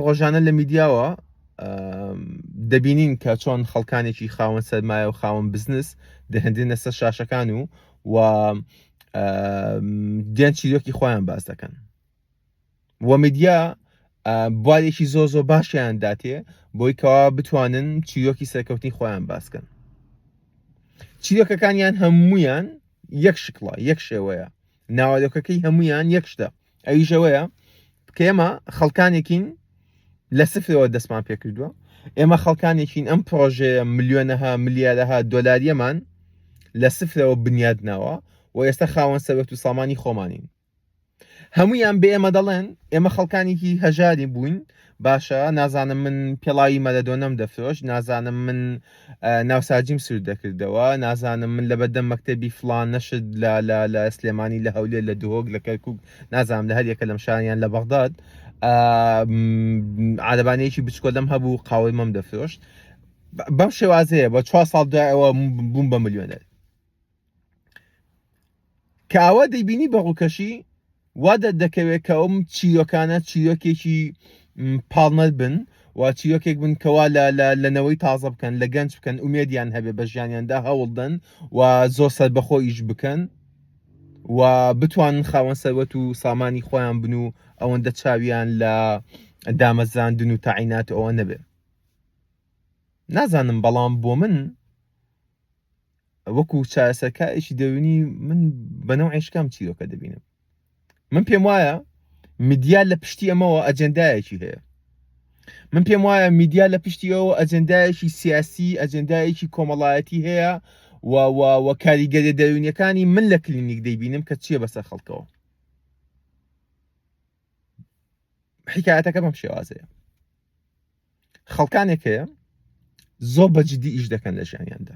ڕۆژانە لە میدیاوە دەبینین کە چۆن خەڵکانێکی خاوەن سەرمایە و خاوەن بزنس دەهندێنە سەر شاشەکان و و دێن چیرۆکی خۆیان باز دەکەن و میدیا بوارێکی زۆ زۆ باشیان داتێ بۆی کەوا بتوانن چیرۆکی سەرکەوتنی خۆیان باسکەن چیرۆکەکانیان هەمویان یەک شکڵە یەک شێوەیە ناوەرۆکەکەی هەموویان یەک شتە ئەویش ئەوەیە کە ئێمە خەڵکانێکین لە سفرەوە دەستمان پێکردووە ئێمە خەڵکانێکین ئەم پرۆژەیە ملیۆنەها ملیارەها دۆلاریەمان لە سفرەوە بنیاد ناوە و ئێستا خاوەن سەرەت و سامانی خۆمانین هەمویان بە ئێمە دەڵێن ئێمە خەڵکانێکی هەژاری بووین باشە نازانم من پێڵاوی مەلەدۆنەم دەفرۆشت نازانم من ناوساجیم سوود دەکردەوە نازانم من لە بەدەم مەکتتەبی فلان نەشت لە لە لە سلێمانی لە هەولێر لە دهۆک لە کەرکک نازانم لە هەریەکە لەم شاریان لە بەغداد عادەبانەیەکی بچکۆلم هەبوو قاوەی مەم دەفرۆشت بەم شێوازەیە بە چوار ساڵ دوایەوە بووم بە ملیۆنەر کە ئاوا دەیبینی بە ڕووکەشی وا دەردەکەوێت کە ئەوم چیرۆکانە چیرۆکێکی پاڵنەر بن و چیرۆکێک بن کەوا لە نەوەی تازە بکەن لە گەنج بکەن ئومێدیان هەبێ بە ژیانیاندا هەوڵدەن و زۆر سربەخۆ ئیش بکەن و بتوانن خاوەن سەروەت و سامانی خۆیان بن و ئەوەندە چاویان لە دامەزراندن و تاعینات ئەوە نەبێ نازانم بەڵام بۆ من وەکو چارەسەرکارێکی دەروونی من بە نەوعی شکام چیرۆکە دەبینم من پێم وایە میدیا لە پشتی ئەمەوە ئەجندایەکی هەیە من پێم وایە میدیا لە پشتی ئەو ئەجندایەکی سیاسی ئەجندایەکی کۆمەڵایەتی هەیە و کاریگەری دەروونیەکانی من لە کلینیک دەیبینم کە چییە بەسەر خەڵکەوە حکایەتەکە بەم شێوازەیە خەڵکانێک هەیە زۆر بە جددی ئیش دەکەن لە ژیانیاندا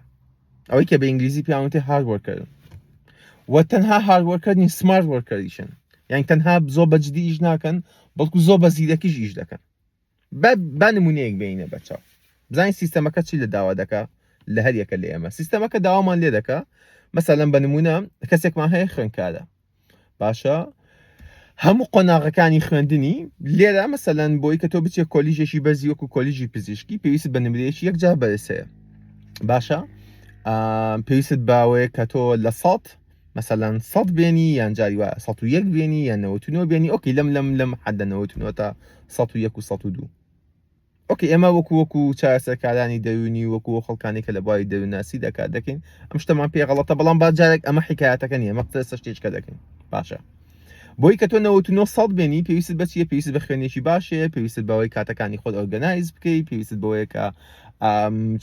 ئەوەی کە بە ئینگلیزی پیاوتێ هاروەرکردن و تەنها هاروەرکردنی سمارت وەرکەریشن یان تەنها زۆر بە جددی ئیش ناکەن بەڵکو زۆر بە زیرەکیش ئیش دەکەن بە نمونەیەک بینە بەچاو بزانین سیستەمەکە چی لە داوا دەکە لە هەر یەکە لە ئێمە سیستەمەکە داوامان لێ دەکە مەسەلەن بە نمونە کەسێکمان هەیە خوێنکارە باشە هەموو قۆناغەکانی خوێندنی لێرە مەسەلەن بۆی کە تۆ بچێ کۆلیژێکی بەرزی وەکو کۆلیژی پزیشکی پێویست بە نمرەیەکی یەکجا بەرسەیە باشە پێویست باوەیە کە تۆ لە سەد مەسەلەن سەد بێنی یان جاری وە سە و یەک بێنی یان نەوەتونەوە بێنی ئۆکی لەم لەم لەم حەدەنەوەتونەوە تا سە و یەک و سە و دوو ئۆکەی ئێمە وەکو وەکو چارەسەرکارانی دەروونی وەکو وەکو خەڵکانی کە لە بواری دەروونناسیدا کار دەکەین ئەم شتەمان پێ غەڵەتە بەڵام با جارێک ئەمە حکایەتەکە نییە ئەمە قسە شتێچکە دەکەین باشە بۆی کە تۆ 99 سەد بێنی پێویست بە چیە پێویست بە خوێنێکی باش هەیە پێویست بەوەی کاتەکانی خۆت ئۆرگەنایز بکەی پێویست بەوەیە کە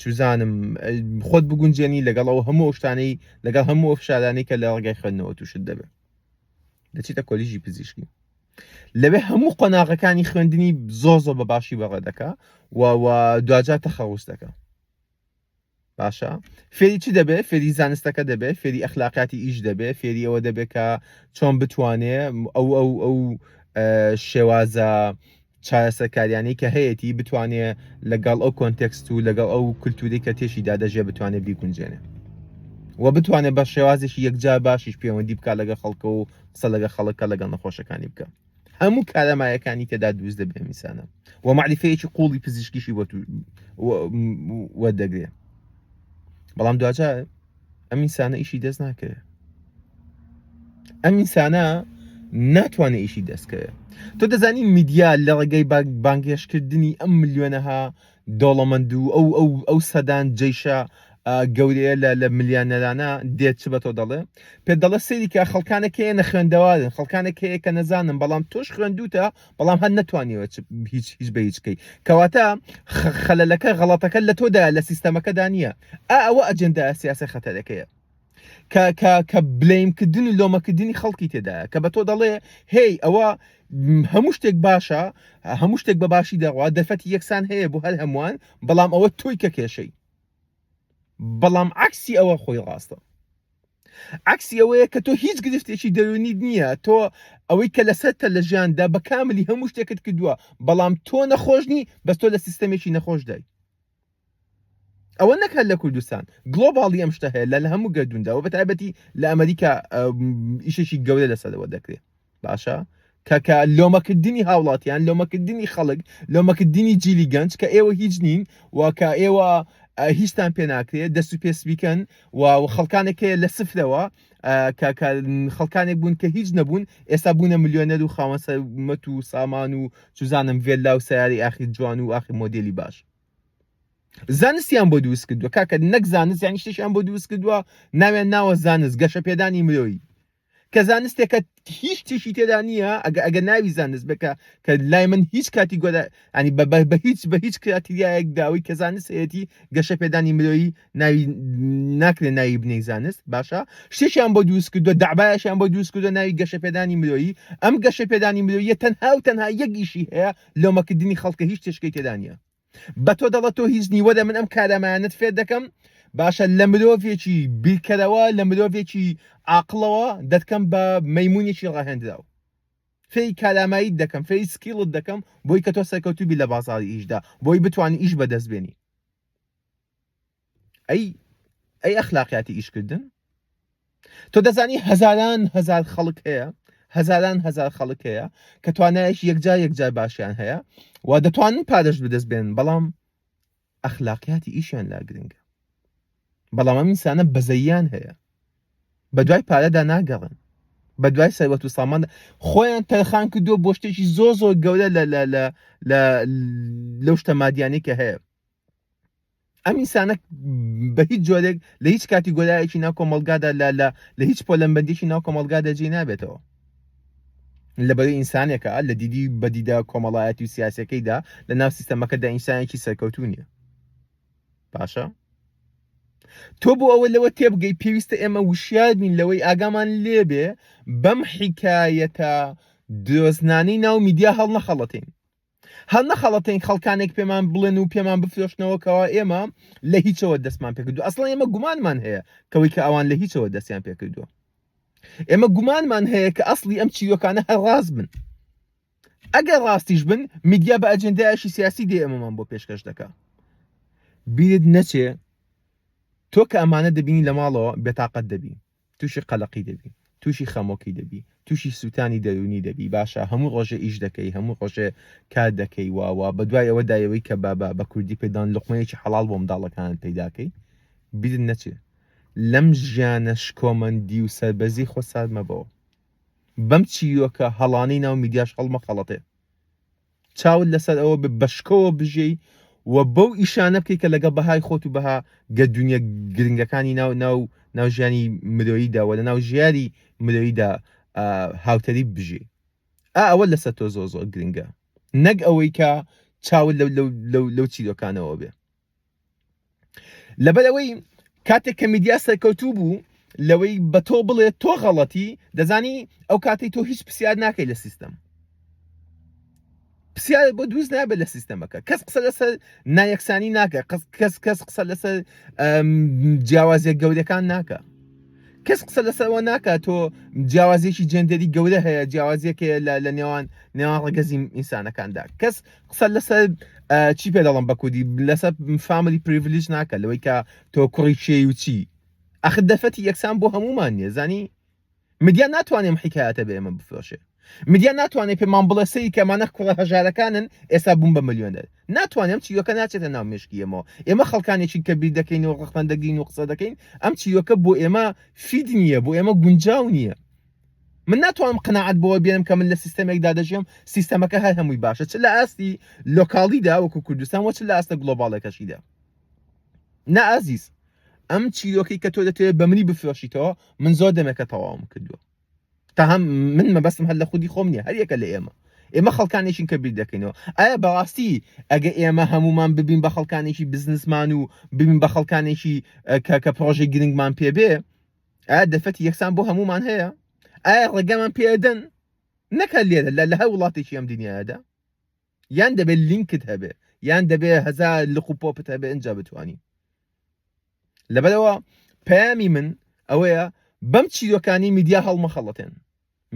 چوزانم خۆت بگونجێنی لەگەڵ ئەو هەموو شتانەی لەگەڵ هەموو فشارانی کە لە ڕگای خوێندنەوە تووشت دەبێت دەچیتە کۆلیژی پزیشکی لەوێ هەموو قۆناغەکانی خوێندنی زۆر زۆر بە باشی بەڕێ دەکا و دواجار تەخەوس دەکە باشە فێری چی دەبێت فێری زانستەکە دەبێت فێری ئەخلاقاتی ئیش دەبێت فێری ئەوە دەبێت کە چۆن بتوانێ ئەو ئەو ئەو شێوازە چارەسەرکاریانەی کە هەیەی بتوانێ لەگەڵ ئەو کۆنتێکست و لەگەڵ ئەو کللتوری کە تێشیدا دەژێ بتوانێت بیگونجێنێ و بتوانێت بە شێوازێکی یەکجار باشیش پەیوەندی بکات لەگە خەڵکە و قسە لەگە خەڵک کە لەگەڵ نەخۆشەکانی بکە هەموو کارەمایەکانی تێدا دووز دەبێ میسانە و معریفەیەکی قوڵی پزیشکیشی بۆ وەردەگرێ بەڵام دواجار ئەم ئینسانە ئیشی دەست ناکەوێت ئەم ئینسانە ناتوانێت ئیشی دەستکەوێت تۆ دەزانی میدیا لە ڕێگەی بانگێشکردنی ئەم ملیۆنەها دەوڵەمەند و ئەو ئەو ئەو سەدان جەیشە ئا گەورەیە لە لە ملیانەرانە دێت چ بە تۆ دەڵێ؟ پێت دەڵێ سەیری کە خەڵکانێک هەیە نەخوێندەوارن، خەڵکانێک هەیە کە نەزانن بەڵام تۆش خوێندووتە بەڵام هەر نەتوانیوە چ هیچ هیچ بە هیچ کەی. کەواتە خە خەلەلەکە غەڵەتەکە لە تۆدایە لە سیستەمەکەدا نییە. ئا ئەوە ئەجێندا سیاسە خەتەرەکەیە. کە کە کە بلەیم کردن و لۆمەکردنی خەڵکی تێدایە کە بە تۆ دەڵێ هی ئەوە م، هەموو شتێک باشە هەموو شتێک بە باشی دەڕوا دەرفەتی یەکسان هەیە بۆ هەر هەمووان بەڵام ئەوە تۆی کە کێشەی بەڵام عکسی ئەوە خۆی ڕاستە عکسی ئەوەیە کە تۆ هیچ گرفتێکی دەرونیت نییە تۆ ئەوەی کە لەسەرتە لە ژیاندا بە کاملی هەموو شتێکت کردووە بەڵام تۆ نەخۆشنی بەس تۆ لە سیستەمێکی نەخۆشدای ئەوە نەک هەر لە کوردستان گلۆباڵی ئەم شتە هەیە لە لە هەموو گەردونداوە بە تایبەتی لە ئەمریکا ئیشێکی گەورە لەسەرەوە دەکرێت باشە کەکە لۆمەکردنی هاوڵاتیان لۆمەکردنی خەڵک لۆمەکردنی جیلی گەنج کە ئێوە هیچ نین وکە ئێوە هیچتان پێ ناکرێت دەست و پێس بیکەن و خەڵکانێک هەیە لە سفرەوە خەڵکانێک بوون کە هیچ نەبوون ئێستا بوونە میلیۆنەر و خاوەن سەرمەت و سامان و چزانم ڤێلا و سیاری ئاخی جوان و ئاخی مۆدلی باش زانستیان بۆ دروست کردووە کاکە نەک زانست یانی شتێکیان بۆ دروست کردووە ناوێن ناوە زانست گەشە پێدانی مرۆیی کە زانستێکە هیچ تیشی تێدا نییە ئەگە ئەگە ناوی زانست بکە کە لای من هیچ کاتی گۆدا ینی بە بە هیچ بە هیچ کراتیایەک داوی کە زانستەتی گەشە پێدانی مرۆیی ناوی ناکرێ ناوی بنەی زانست باشە شتێکیان بۆ دروست کردو دابایشیان بۆ دروست کردو ناوی گەشە پێدانی مرۆیی ئەم گەشە پێدانی مرۆیە تەنها و تەنها یەکیشی هەیە لۆمەکردنی خەڵکە هیچ تێچکەی تێدا نییە بە تۆ دەڵە تۆ هیچ نیوەدە من ئەم کارەمانت فێر دەکەم باشە لە مرۆڤێکی بیرکەرەوە لە مرۆڤێکی عقلەوە دەتکەم بە مەمونێکی ڕاهێنراو فێی کارامایی دەکەم فێی سکیڵت دەکەم بۆی کە تۆ سەرکەوتوبی لە بازاری ئیشدا بۆی بتانی ئیش بەدەست بێنی ئەی ئەی ئەخلاقیاتی ئیشکردن تۆ دەزانی هەزاران هەزار خەڵک هەیە هەزاران هەزار خەڵک هەیە کە توانایەکی یەکجار یەکجار باشیان هەیە و دەتوانن پارەش بدەست بێن بەڵام ئەخلاقیاتی ئیشیان لا گرنگە بەڵام ئەم ئینسانە بەزەیان هەیە بە دوای پارەدا ناگەڕن بە دوای سەروەت و سامان خۆیان تەرخان کردو بۆ شتێکی زۆ زۆر گەورە لە لە لە لە لەو شتە مادیانەی کە هەیە ئەم ئینسانە بە هیچ جۆرێک لە هیچ کاتی گۆرایەکی ناو کۆمەلگادا لە لە لە هیچ پۆلەمبەندێکی ناو کۆمەلگادا جێ نابێتەوە لەبەرەی ئینسانێکە لە دیدی بەدیدا کۆمەڵایەتی و سیاسەکەیدا لە ناو سیستەمەکەدا ئینسانێکی سەرکەوتو نیە باشە تۆ بۆ ئەوە لەوە تێبگەی پێویستە ئێمە وشیار بین لەوەی ئاگامان لێبێ بەم حیکایەتە درۆزنانەی ناو میدیا هەڵ نەخەڵەتین هەر نەخەڵەتێن خەڵکانێک پێمان بڵێن و پێمان بفرۆشنەوە کەوا ئێمە لە هیچەوە دەستمان پێکردو ئەسڵ ئێمە گومانمان هەیە کەوەی کە ئەوان لە هیچەوە دەستیان پێکردووە ئێمە گومانمان هەیە کە ئەسلی ئەم چیرۆکانە هەر ڕاست بن ئەگەر ڕاستیش بن میدیا بە ئەجندایشی سیاسی دێ ئەمەمان بۆ پێشکەش دەکە بیرت نەچێ تۆ کە ئەمانە دەبینی لە ماڵەوە بێتاقەت دەبی توشی قەلەقی دەبی توشی خەمۆکی دەبی توشی سوتانی دەرونی دەبی باشە هەموو ڕۆژێ ئیش دەکەی هەموو ڕۆژێ کار دەکەی وا وا بەدوای ئەوە دایەوەی کە بابا بە کوردی پێدان لقمەیەکی حەڵاڵ بۆ منداڵەکانت پەیداکەی بیرت نەچێ لەم ژیانە شکۆمەندی و سەربەزی خۆ سارد مەبەوە بەم چیرۆکە هەڵانەی ناو میدیاش هەڵمەخەڵەتێ چاوت لەسەر ئەوە بێ بەشکۆوە بژێی و بەو ئیشانە بکەی کە لەگە بەهای خۆت و بەها گە دنیا گرنگەکانی ناو ناو ناو ژیانی مرۆییدا وە لە ناو ژیاری مرۆییدا هاوتەریب بژێی ئا ئەوە لەسەر تۆ زۆر زۆر گرنگە نەک ئەوەی کە چاوت لەو لەو لەو لەو چیرۆکانەوە بێ لەبەر ئەوەی کاتێک کە میدیا سەرکەوتوو بوو لەوەی بە تۆ بڵێت تۆ غەڵەتی دەزانی ئەو کاتی تۆ هیچ پرسیار ناکەی لە سیستەم پرسیار بۆ دووز نابێت لە سیستەمەکە کەس قسە لەسەر نایەکسانی ناکە کەس کەس قسە لەسەر جیاوازە گەورەکان ناکە کەس قسە لەسەرەوە ناکات تۆ جیاوازێکی جندری گەورە هەیە جیاوازێک هەیە لە نێوان نێوان ڕگەزی ئینسانەکاندا کەس قسە لەسەر چی پێ دەڵم بە کوردی لەسەر فاملی پریڤلیج ناکە لەوەی کە تۆ کوڕی کێی و چی ئەخ دەفەتی یەکسان بۆ هەمومان نیە زانی مدیا ناتوانێم حیکایەتە بە ئێمە بفرۆشێ مدیا ناتوانێت پێمان بڵێ سەری کەمانە کوڕە هەژارەکانن ئێستا بووم بە ملیۆنەر ناتوانێم چیرۆکە ناچێتە ناو مشکیەمەوە ئێمە خەڵکانێکی کە بیر دەکەین و ڕخمەندەگرین و قسە دەکەین ئەم چیرۆکە بۆ ئێمە فید نییە بۆ ئێمە گونجاو نییە من ناتوانم قەناعەت بەوە بێنم کە من لە سیستەمێکدا دەژێم سیستەمەکە هەر هەمووی باشە چ لە ئاستی لۆکاڵیدا وەکو کوردستان وە چ لە ئاستە گلۆباڵێکەشیدا نا ئازیز ئەم چیرۆکی کە تۆ دەتەوێت بە منی بفرۆشیتەوە من زۆر دەمێکە تەواوم کردووە تا هەم من مەبەستم هەر لە خودی خۆم نیە هەریەکە لە ئێمە ئێمە خەڵکانێکین کە بیر دەکەینەوە ئایا بەڕاستی ئەگە ئێمە هەمومان ببین بە خەڵکانێکی بزنسمان و ببین بە خەڵکانێکی کە کە پرۆژەی گرنگمان پێبێ ئایا دەرفەتی یەکسان بۆ هەمومان هەیە ئایا ڕێگامان پێدەن نەکە لێرە لە لە هەر وڵاتێکی ئەم دنیادا یان دەبێت لینکت هەبێ یان دەبێ هەزار لق و پۆپت هەبێ ئەجا بتانی لەبەرەوە پەیامی من ئەوەیە بەم چیرۆکانی میدیا هەڵمەخەڵەتێن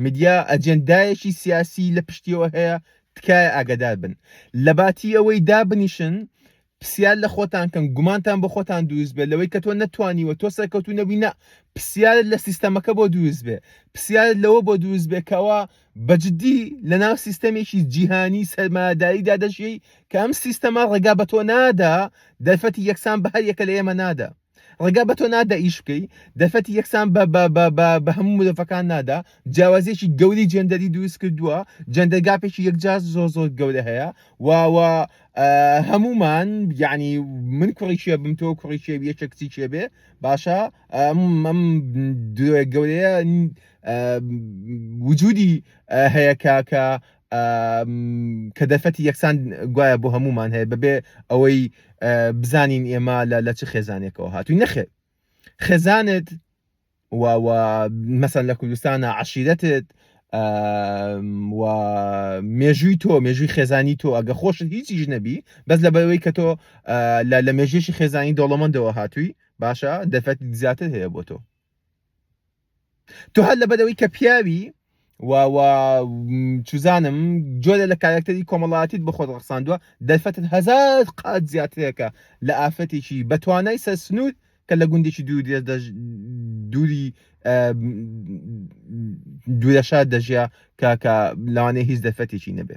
میدیا ئەجێندایەکی سیاسی لە پشتیەوە هەیە تکایە ئاگەدار بن لەباتی ئەوەی دابنیشن پسیار لە خۆتان کەن گومانتان بۆ خۆتان دووست بێت لەوەی کە تۆ نەتوانیوە تۆ سەرکەوتو نەبووی نە پسیارت لە سیستەمەکە بۆ دووست بێ پسیارت لەوە بۆ دووست بێ کەەوە بەجددی لە ناو سیستەمێکی جیهانی سەرماداییدا دەژیەی کە ئەم سیستەما ڕێگا بە تۆ نادا دەرفەتی یەکسان بە هەر یەکە لە ئێمە نادا ڕێگا بە تۆ نادا ئیش بکەی دەرفەتی یەکسان بە بە بە بە بە هەموو مدەفەکان نادا جیاوازیەکی گەوری جێندەری دروست کردووە جەندە گاپێکی یەکجار زۆر زۆر گەورە هەیە واوە هەمومان یعنی من کوڕی شێ بم تۆ کوڕی شێ یەکە کچی شێ بێ باشە ئەم گەورەیە وجودی هەیە کاکە کە دەرفەتی یەکسان گوایە بۆ هەمومان هەیە بەبێ ئەوەی بزانین ئێمە لە لە چ خێزانێکەوە هاتووی نەخێ خێزانت مەسەن لە کوردستانە عشیرەتت و مێژووی تۆ مێژووی خێزانی تۆ ئەگە خۆشت هیچیش نەبی بەس لە بەوەی کە تۆ لە مێژێکی خێزانی دەوڵەمەندەوە هاتووی باشە دەفەت زیاتر هەیە بۆ تۆ تۆ هەر لەبەر ئەوەی کە پیاوی و و چوزانم جۆرە لە کارکتەری کۆمەڵاتیت بە خۆت ڕخساندووە دەرفەتت هەزار قات زیاترێکە لە ئافرەتێکی بەتوانای سەر سنوور کە لە گوندێکی دوور دێ دەژ- دووری ئە، دوورە شار دەژیا کە کە لەوانەیە هیچ دەرفەتێکی نەبێ